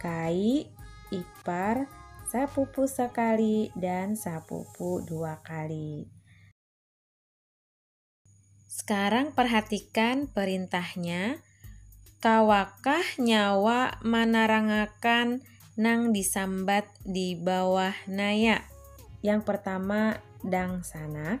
Kai, ipar, sapupu sekali, dan sapupu dua kali. Sekarang perhatikan perintahnya. Kawakah nyawa manarangakan nang disambat di bawah naya? Yang pertama, dangsanak.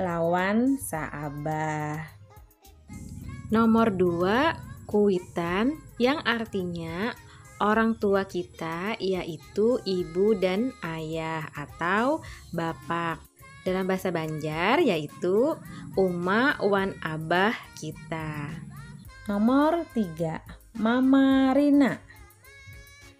lawan saabah. Nomor dua, kuitan yang artinya orang tua kita yaitu ibu dan ayah atau bapak. Dalam bahasa Banjar yaitu uma wan abah kita. Nomor tiga, mama Rina.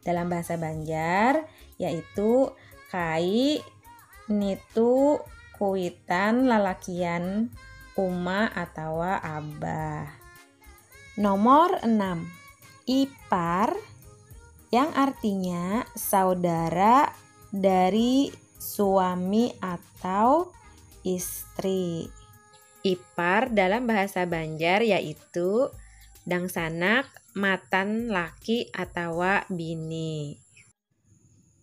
Dalam bahasa Banjar yaitu kai nitu kuitan lalakian uma atawa abah. Nomor 6. Ipar yang artinya saudara dari suami atau istri. Ipar dalam bahasa Banjar yaitu dangsanak matan laki atawa bini.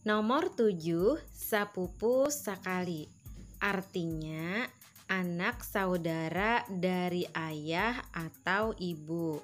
Nomor tujuh, sapupu sakali. Artinya, anak saudara dari ayah atau ibu.